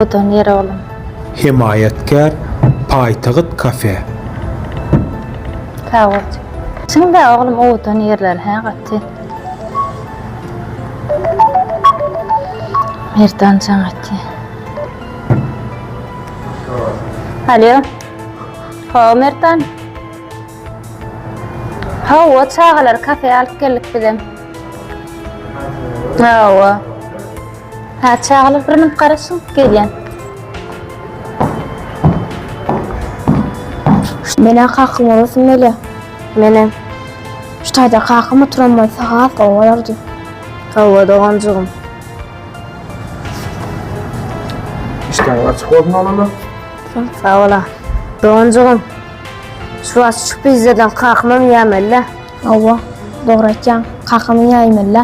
Odan ýere oglum. Hemaýatkär Paýtagyt kafe. Sagbolsun. Çynda oglum owadan ýerler hä gaty. Merdanjan gaty. Alýo. Hawa Merdan. Hawa çagalary kafeýa alyp geldik bizem. Hawa. Hä, çagalar bir münüp garaşyň, gelýän. Menä kakam olasyn mele. Menä. Şu taýda kakam oturan bolsa has gowy bolardy. Hawa doganjygym. Işleň açyk bolsun oglanlar. Sag bola. Doganjygym. Şu wagt şu pizzadan kakamam ýemeli. Hawa, dogry aýtýaň. Kakamam ýemeli.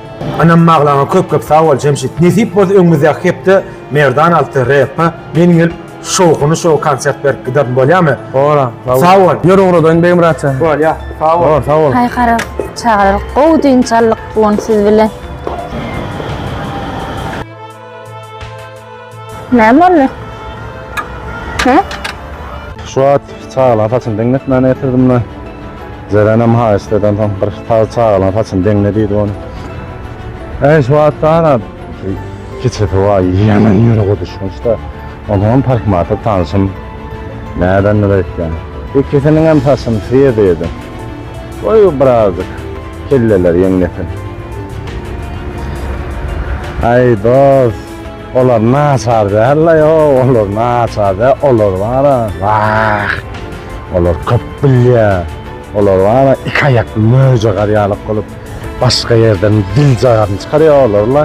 Ynam maglaňa köp köp sag bol Jemşit. Nesip bolsa öňümizdäki hepde Merdan alty repa men gelip şowhuny şow konsert berip giderin bolýamy? Bolar. Sag bol. Ýör ugradaýyn Begmyrat sen. Bolýa. Sag bol. Bor, sag bol. Taý gara çagalar gowy dynç aldyk bu gün siz bilen. Näme boldy? He? Şu wagt çagalaryň saçyny deňletmäne getirdim-de, Jerenem haýyşt eden soň, bir sag çagalaryň saçyny deňle diýdi ony. Äý, şu wagt-a, ana, kiçisi bar, ýene ýüregi düşmüş-de. Onuňam parhmaty tanşym nädendir öýtýän. Ikisiniňem saçyny syýa-syýadan. Goý, birazajyk kelleleri ýeňlesin. Aý, dost, olar naçar däl-le, ýok, olar naçar däl, olar bar-a, wah, olar köp bilýär. Olar bar-a, iki aýakly möjegär ýaly bolup, başga ýerden dil-jagaryny çykarýar olar-la.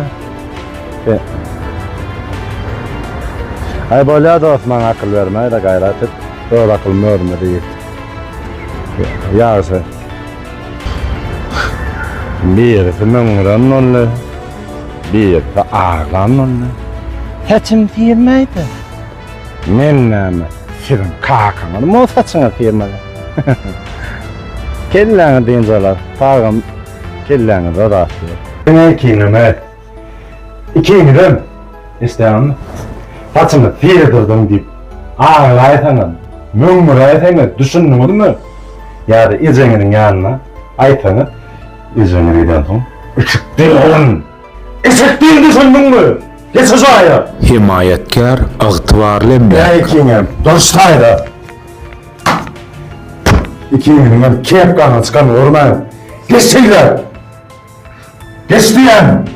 E. Ay bolya dost maňa akyl berme da gayrat et. Öz akylymy özüme diyip. Yagşy. Birisi möňňüren boldy. Birisi aglan boldy. Saçym syrmaydy. Men näme siziň kakaňyzmy o saçyňyz syrmaly. Kelläňi dynç alar. Sagym. Kelläňize rahatlyk. Diňe ikiňeme. Ikiňizem isleýäňmi? Saçyňy syrdyrdyň diýip aglaýsaňam, möňňüräýseňiz, düşündiňizmi? Ýa-da ejeňiziň ýanyna aýtsaňyz, ejeňiz gidensoň, Eşek diýil oglan! Eşek diýil düşündiňmi? Geçe jaýa! Hemaýatkär, ygtybarly emläk. Diňe ikiňem, durşaý-da! Ikiniň hem kepkaňy çykan görme. Geç şeýle. Geç diýýän.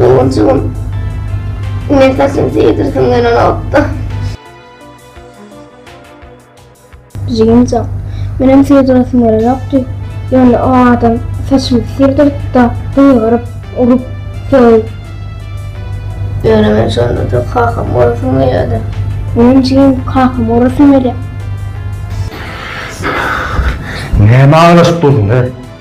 Ogunjygym, men saçyny seýdirsin gelen otda. Jigimjan, menem sygdyrasym gelenokdy, ýöne o adam saçymy syrdyryp-da, gygyryp, urup, sögüp. Ýöne men şonda-da kakamy urasym gelýärdi. Menem jigim, kakamy urasym gelýär. Näme aglaşyp dursuň-da?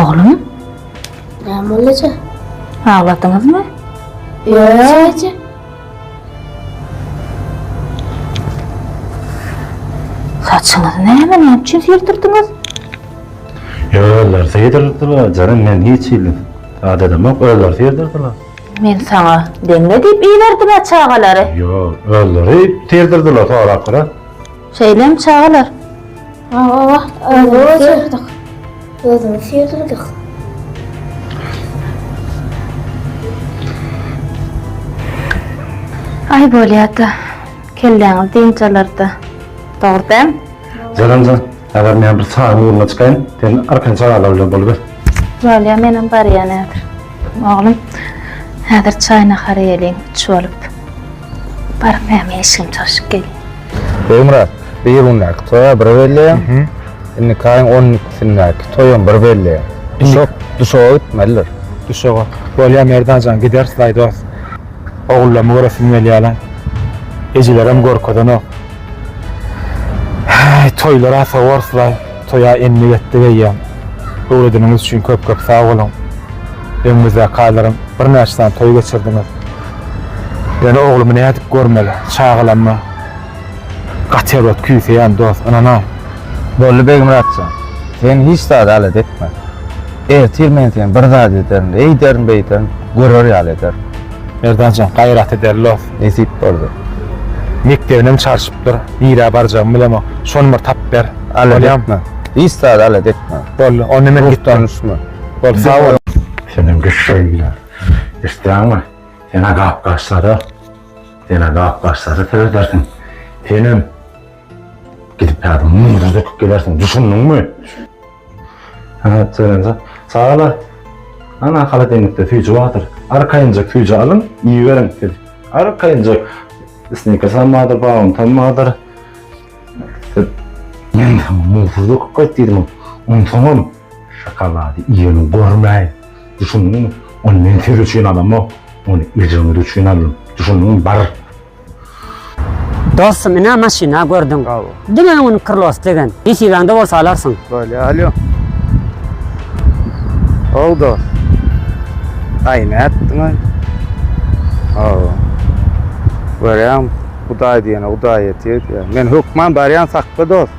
Oglum? Näme bolýa? Agladyňyzmy? Ýa. Saçyňyz näme? Näme üçin sildirdiňiz? Ýollar seýdirdiler, janym men hiç hili adadamok, ýollar seýdirdiler. Men saňa deňle diýip iberdim-ä çagalary. Ýok, ýollar seýdirdiler, sorap görä. Şeýlemi çagalar? Hawa wah, özümiz ýyrdyk. Özümiz ýyrdyk. Aý bolýa-da, kelläňiz dynç alar-da. Dogry dämi? Jaranjan, häzir men bir çaýyň ugruna çykaýyn, sen arkan çagalar bilen boluber. Bolýa, menem barýan häzir. Oglum, häzir çaý-nahar iýeliň, üç bolup. Baryp näme eşigini çalşyp gelýin. Begmyrat, bir gündäki toýa bir belleýäň, indiki aýyň on ikisindäki toýam bir belleýäň. Duşak, duşaga gitmelidir. Duşaga. Bolýa, Merdan jan, gideris laý dost. Ogullamy göresim gelýär-le. Ejelerem görkezenok. Häý toýlar ata orslar toýa endik etdik eýýäm. Öwredeniňiz üçin köp köp sag boluň. Öňümizdäki aýlaram birnäçe sany toý geçirdiňiz. Ýöne oglumy nädip görmeli? Çagalammy? Gaty erbet küýseýän dos, ynanaý. Boldy Begmyratjan. Sen hiç zada alada etme. Ertir men seni bir zat ederin, eýderin-beýderin, görer ýaly ederin. Merdanjan gaýrat eder los nesip boldy. Mekdebinem çalşypdyr. Nirä barjagymy bilemok. Şony bir tap ber. Alet etme. Hiç zat alet etme. Boldy. Onda men gitdim. Boldy. Sag bol. Senem geç şeýle. Isleýäňmi? Sene gap başlary. Sene gap başlary seredersiň. Senem gidip häzir muňa döküp gelersiň. Düşündiňmi? Hä, Selenza. Sagala. Ana, haladeýnikde süýji bardyr. Arkaýynjak süýji alyň, iýiberiň, siz. Arkaýynjak snikers-am bardyr, bauntam bardyr. Siz. Men saňa muzdy döküp gaýt diýdim, onsoňam şokolady iýeni görmäýin. Düşündiňmi? Ony men siz üçin alamok, ony ejeňiz üçin aldym. Düşündiňmi? Bar! Dostum ine maşyna gördüň. Bravo. Diňe öňüni krlos degen. Nesibäňde bolsa alarsyň. Bolýa alýo. How dost. Aý nätdiň aý. How. Görýäň hudaý diýene hudaý ýetýär diýýär. Men hökman barýan sakda dost.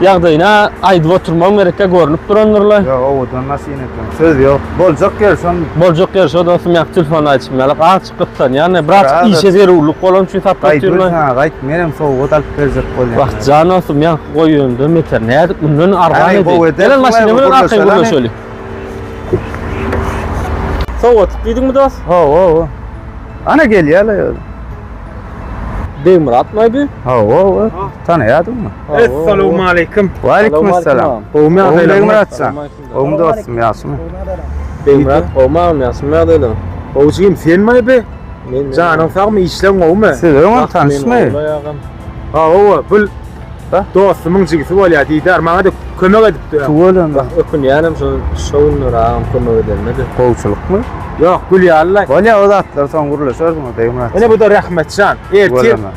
Ýagdaýyna aýdyp oturmam gerekkä görnüp durandyrla. Ýok owadan maşyn eken. Söz ýok. Boljak ýeri şon. Boljak ýeri şo dostum ýa telefon aýdyşym ýalyk aç gytsan ýane biraz işe zerurlyk bolan üçin sap oturma. Gaýt ha gaýt menem sowgat alyp berjek bolýan. Wah jan dostum ýa goý önden beter nädip mundan arzan edi. Gel maşyny bilen arkaýyn gürleşeli. Sowgatlyk diýdiňmi dost? Hawa hawa. Ana gelýärler. Begmyrat maýby? Hawa hawa. Tanaýadyňmy? Assalamu aleykum. Wa aleykum assalam. Gowmy agzaýlar? Gowmy Muratjan. Gowmy dostum ýagşymy? Beýmrat gowmy agam ýagşymy ýagdaýlar? Gowjygym sen maý be? Men janyň sagmy işleň gowmy? Siz öňem tanyşmy? Hawa bul dostumyň jigisi bolýar diýdär maňa da kömek edipdi. Tuwalan. Ökünýänem şu şowunlar agam kömek edende de. Gowçulykmy? Ýok gülýärler. Bolýar o zatlar soň gürleşersiň Beýmrat. Ene bu da Rahmetjan. Ertir.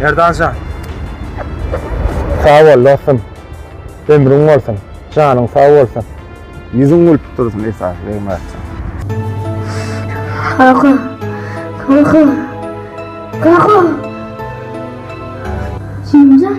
Merdanjan. Sag bol dostum. Ömrüň bolsun. Janyň sag bolsun. Ýüzüň gülüp dursun esasy Begmyratjan. Kaka. Kaka. Kaka. Jimjan.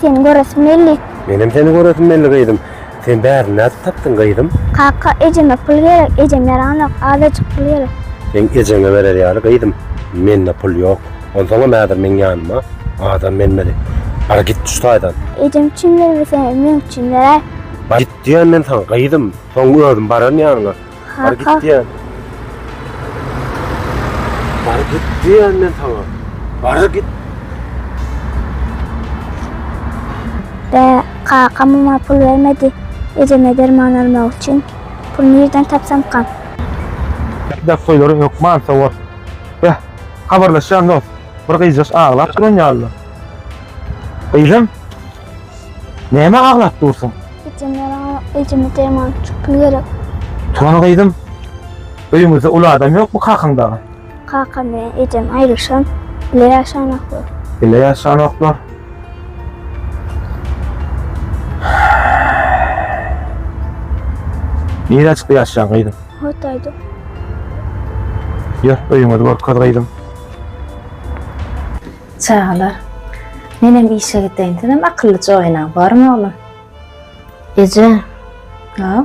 Seni göresim geldi. Menem seni göresim geldi gyzym. Sen bärini nädip tapdyň gyzym? Kaka ejeme pul gerek, ejem ýaranok, azajyk pul gerek. Seň ejeňe berer ýaly gyzym, mende pul ýok. Onsoňam häzir meň ýanyma adam gelmedi. Bar git şu taýdan. Ejem üçin bermesem hem meň üçin beräý. Bar git diýýän men saňa gyzym, soň özüm baran ýanyňa. Bar git diýen. Bar git diýen men sana. Bar git. De kakam ona pul bermedi. Ejeme derman almak üçin. Pul nereden tapsam kam? Bäh toýlaryň hökman sowat. Bäh, habarlaşýan dost. Bir gyzjaş aglap duran ýaly. Gyzym, Näme aglap dursaň? Gitdim ýalan, ejimi deman çykmy gerek? Turan gyzym, öýüňizde uly adam ýokmy kakaň dagy? Kakam bilen ejem aýrylyşan, bile ýaşanoklar. Bile ýaşanoklar. Nirä çykdy ýaşaýan gyzym? Hotaýda. Ýör, öýüňizi görkez gyzym. Çagalar, menem işe gideyim, sizem akyllyja oýnaň, bormy oglum? Eje, Hä?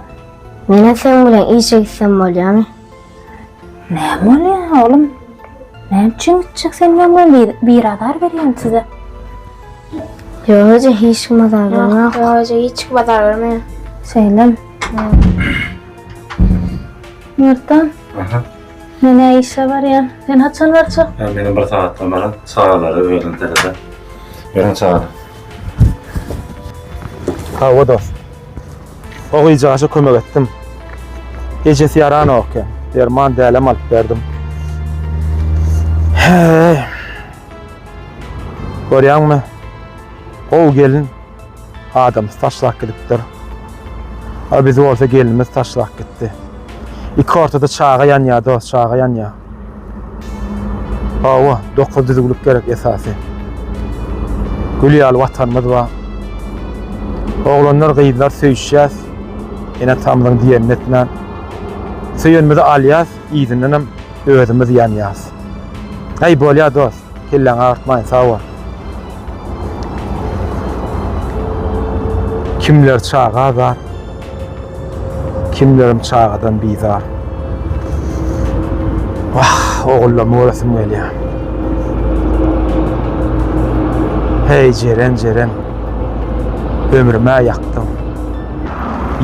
menem seň bilen işe gitsem bolýamy? Näme bolýar, oglum? Näme üçin gitjek sen bilen welin, bir azar berýän size. Ýok eje, hiç kim azar bermok. Ýok eje, hiç kim azar bermeýär. Şeýlemi? Merdan, Aha. Men-ä işe barýan. Sen haçan barjak? Ýa meniň bir sagatdan baran çagalara öýüň terede. Ýörüň çagalar. Hawa dost. O gyzjagaza kömek etdim. Ejesi ýaranok eken. Derman dälem alyp berdim. Heý. Görýäňmi? Gowy gelin Adamys taşlap gidipdir. A biz bolsa gelnimiz taşlap gitdi. Iki ortada çaga ýanýar dost, çaga ýanýar. Hawa, dokuz düzüwlik gerek esasy. Gül ýaly watanymyz bar. Oglanlar, gyzlar söýüşýäs. Ene tamyň diýenini etmän. Söýenimizi alýas, yzyndanam özümiz ýanýas. Aý bolýar dost. Kelläň agyrtmaýyn sag bol. Kimler çaga azat, kimlerim çagadan bizar. Wah, ogullarymy göresim gelýär. Hey Jeren, Jeren, ömrüme ýakdyň.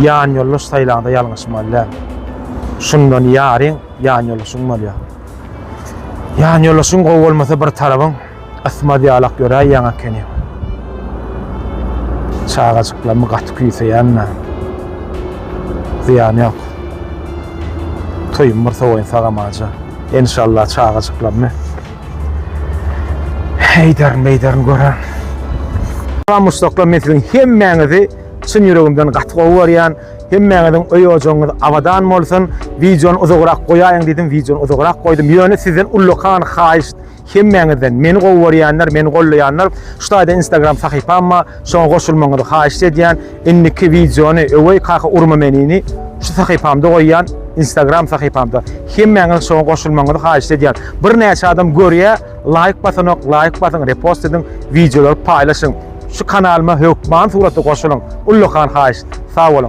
Ýan ýoldaş saýlaňda ýalňyşmaly däl. Şundan ýaryň Ýan ýoldaşyň bolýar. Ýan ýoldaşyň gowy bolmasa bir tarabyň ysmaz ýalak ýöräý ýaň ekeni. Çagajyklarymy gaty küýseýän men. Zyýany ýok. Toýumy bir sowaýyn sagam aja. Enşalla çagajyklarymy heýderin beýderin gören. Salam muşdaklar men siziň hemmäňizi çyn ýüregimden gaty gowy görýän. Hemmäňiziň öý-ojagyňyz abadan bolsun. Wideony uzagrak goýaýyň diýdim, wideony uzagrak goýdum. Ýöne sizden ullakan haýyşt, hemmäňizden, meni gowy görýänler, meni gollaýanlar, şu taýda Instagram sahypam bar, şoňa goşulmagyňyzy haýyşt edýän. Indiki wideony Öweý kaka urma menini şu sahypamda goýýan, Instagram sahypamda. Hemmäňiziň şoňa goşulmagyňyzy haýyşt edýän. Birnäçe adam görýär, laýk basanok, laýk basyň, repost ediň, wideolary paýlaşyň. Şu kanalyma hökman suratda goşulyň. Ullakan haýyşt. Sag boluň.